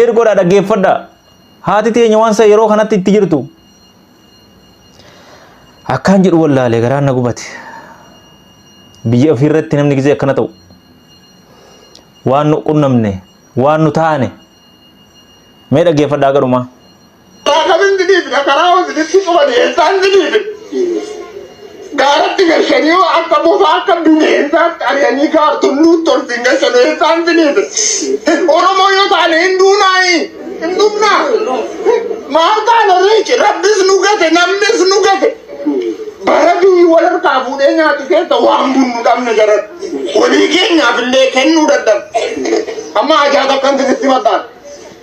sheer godhaa dhaggeeffadhaa haati teenya waan san yeroo kanatti itti jirtu akkaan jedhu wallaalee garaan na gubate biyya ofii irratti namni gisee akkana ta'u waan nu qunnamne waan nu taane mee dhaggeeffadhaa garumaa. Taakabin didhiif dhakaraa hoosiditti cufani eessaan didhiife. Gaaratti gashanii yoo akka bofaa akka bineensaatti ari'anii gaartulluu tolfiin gashanii eessaan didhiife. Oromoo yoo taane hin duunaayi. Hin duunaa. Maal taana riici rabbis nu gate namnis nu gate. Bara biyyi wal harkaa fuudhee nyaatu keessa waan bunnu dhabne jaran. Walii keenyaaf illee kennuu dadhabne. Amma ajaa takkan sinitti mataan.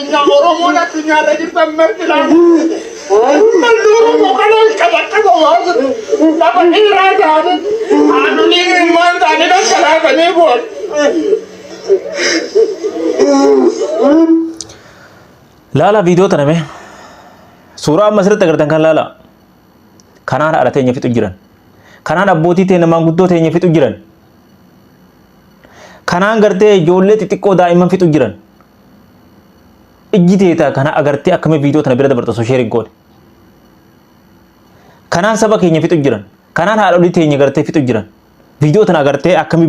Addunyaa Oromoon addunyaarra jirtan marti laata. Uummanni Oromoo kan ol qabattaba waan jiru. Lafa dhiiraa taate haadholii ilmaan taate dhangalaasanii bu'an. Laala viidiyoo tana mee. Suuraa amma asirratti agartan kan laala. Kanaan haadha teenya fixu jiran. Kanaan abbootii teenya maanguddoo teenya fixu jiran. Kanaan gartee ijoollee xixiqqoo daa'imman fixu jiran. ijji teeta kana agartee akkamitti viidiyoo tana bira dabarta osoo sheer hin goone. Kanaan saba keenya fixu jiran. Kanaan haadholii teenya gartee fixu jiran. Viidiyoo tana agartee akkamitti